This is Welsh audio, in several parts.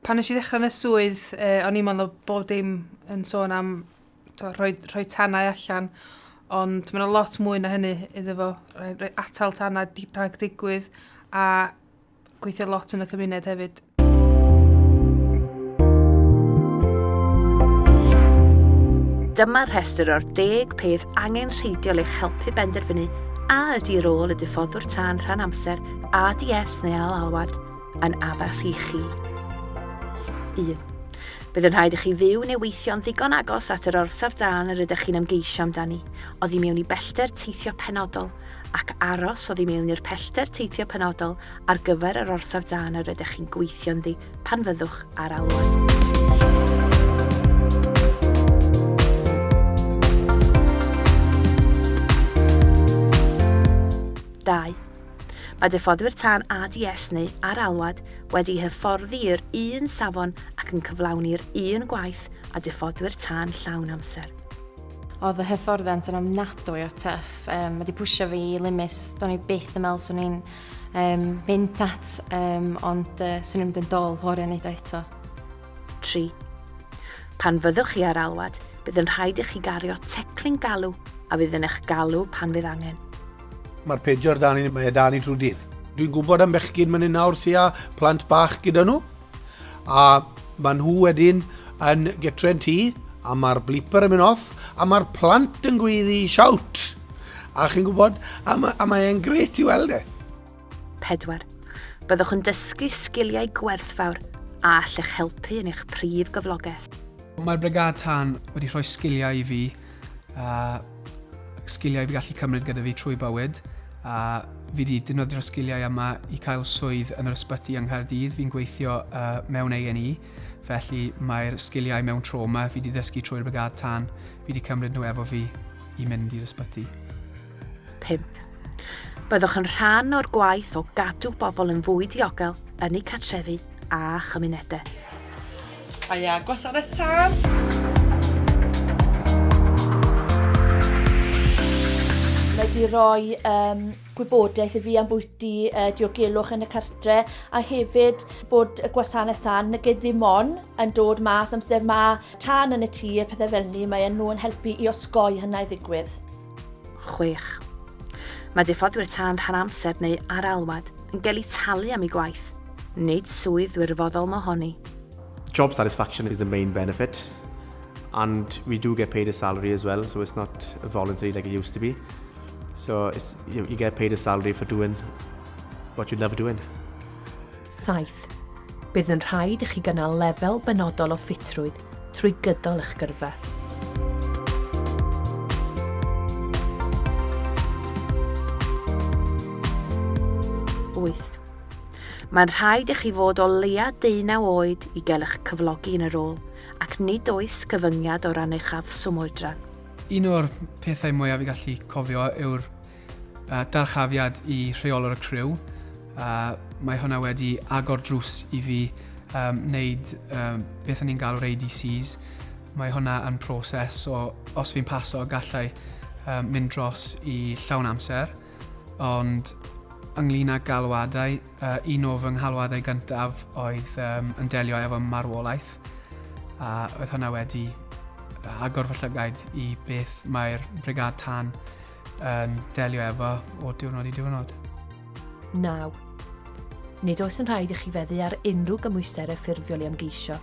Pan nes i ddechrau yn y swydd, eh, o'n i'n meddwl bod dim yn sôn am to, rhoi, rhoi tanau allan, ond mae'n lot mwy na hynny iddo fo. Rhoi atal tanau rhag digwydd a gweithio lot yn y cymuned hefyd. Dyma rhestr o'r deg peth angen rheidiol eich helpu benderfynu a ydy rôl y diffoddwr tân rhan amser, ADS neu al-alwad, yn addas i chi. 1. Bydd yn rhaid i chi fyw neu weithio'n ddigon agos at yr orsaf dan yr ydych chi'n ymgeisio amdani, oddi mewn i bellter teithio penodol, ac aros oddi mewn i'r pellter teithio penodol ar gyfer yr orsaf dan yr ydych chi'n gweithio ynddi pan fyddwch ar alwad. Mae diffoddwyr tân ADS neu ar alwad wedi hyfforddi i'r un safon ac yn cyflawni'r un gwaith â diffoddwyr tân llawn amser. Oedd y hyfforddiant yn ofnadwy o tyff. Um, mae wedi pwysio fi i limis. Do'n i byth yn meddwl swn i'n um, mynd at, um, ond uh, swn i'n mynd yn dol fori yn eiddo eto. 3. Pan fyddwch chi ar alwad, bydd yn rhaid i chi gario teclyn galw a fydd yn eich galw pan fydd angen. Mae'r pejor dan i, mae e dan i trwy dydd. Dwi'n gwybod am bechgyn mynd yn nawr sy'n â plant bach gyda nhw. A mae nhw wedyn yn getre'n tu, a mae'r blipper yn mynd off, a mae'r plant yn gweiddi siawt. A chi'n gwybod, a, ma, a mae e'n gret i weld e. Pedwar. Byddwch yn dysgu sgiliau gwerthfawr a allech helpu yn eich prif gyflogaeth. Mae'r Brigâd Tân wedi rhoi sgiliau i fi a sgiliau fi gallu cymryd gyda fi trwy bywyd a fi wedi defnyddio'r sgiliau yma i cael swydd yn yr ysbyty yng Nghaerdydd. Fi'n gweithio uh, mewn A&E, felly mae'r sgiliau mewn trauma fi wedi ddysgu trwy'r brigad tan fi wedi cymryd nhw efo fi i mynd i'r ysbyty. 5. Byddwch yn rhan o'r gwaith o gadw bobl yn fwy diogel yn eu cartrefi a chymunedau. Aia, gwasanaeth tân! wedi rhoi um, gwybodaeth i fi am bwyty uh, diogelwch yn y cartre a hefyd bod y gwasanaeth tan nag ddim on yn dod mas amser mae tan yn y tŷ a pethau fel ni, mae nhw'n helpu i osgoi hynna i ddigwydd. chwech. Mae diffoddwyr tân rhan amser neu ar alwad yn gael eu talu am eu gwaith, nid swydd wirfoddol mohoni. Job satisfaction is the main benefit and we do get paid a salary as well, so it's not voluntary like it used to be. So you, you get paid a salary for doing what you love doing. Saith, bydd yn rhaid i chi gynnal lefel benodol o ffitrwydd trwy gydol eich gyrfa. Wyth, mae'n rhaid i chi fod o leia 19 oed i gael eich cyflogi yn y rôl, ac nid oes cyfyngiad o ran eich afswm oedran. Un o'r pethau mwyaf i gallu cofio yw'r Yy, dyrchafiad i rheolwr y criw. Yy, mae hwnna wedi agor drws i fi um, wneud um, beth o'n i'n galw'r ADCs. Mae hwnna yn proses o, os fi'n paso, gallai um, mynd dros i llawn amser. Ond ynglyn â galwadau, uh, un o fy nghalwadau gyntaf oedd um, yn delio efo marwolaeth, a oedd hwnna wedi agor fy llygaid i beth mae'r brigad tan yn delio efo o diwrnod i diwrnod. 9. Nid oes yn rhaid i chi feddu ar unrhyw gymwysterau ffurfiol i ymgeisio,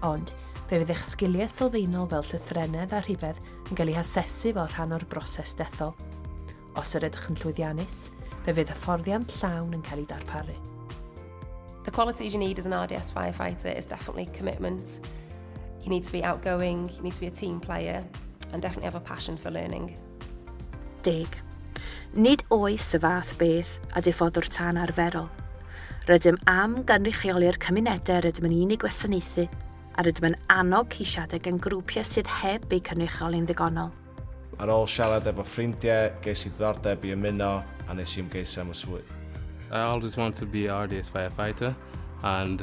ond fe fydd eich sgiliau sylfaenol fel llythrennedd a rhifedd yn cael eu hasesu fel rhan o'r broses dethol. Os yr ydych yn llwyddiannus, fe fydd hyfforddiant llawn yn cael ei darparu. The qualities you need as an RDS firefighter is definitely commitment. You need to be outgoing, you need to be a team player, and definitely have a passion for learning. Deg. Nid oes y fath beth a diffoddwr tân arferol. Rydym am gynrychioli'r cymunedau rydym yn unig gwasanaethu a rydym yn annog ceisiadau gan grwpiau sydd heb eu cynrychioli'n ddigonol. Ar ôl siarad efo ffrindiau, ges i ddiddordeb i ymuno a nes i ymgeisio am y swydd. I always wanted to be a artist firefighter and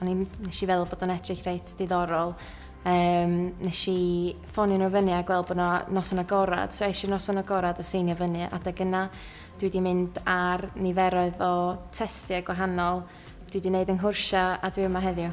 O'n i'n... nes i feddwl bod o'n edrych reit diddorol. Um, nes i ffonio nhw fyny a gweld bod yna noson agorad, so eisiau noson agorad a seinio fyny. Adeg yna, dwi wedi mynd ar niferoedd o testiau gwahanol. Dwi wedi gwneud yng Nghwrsio a dwi yma heddiw.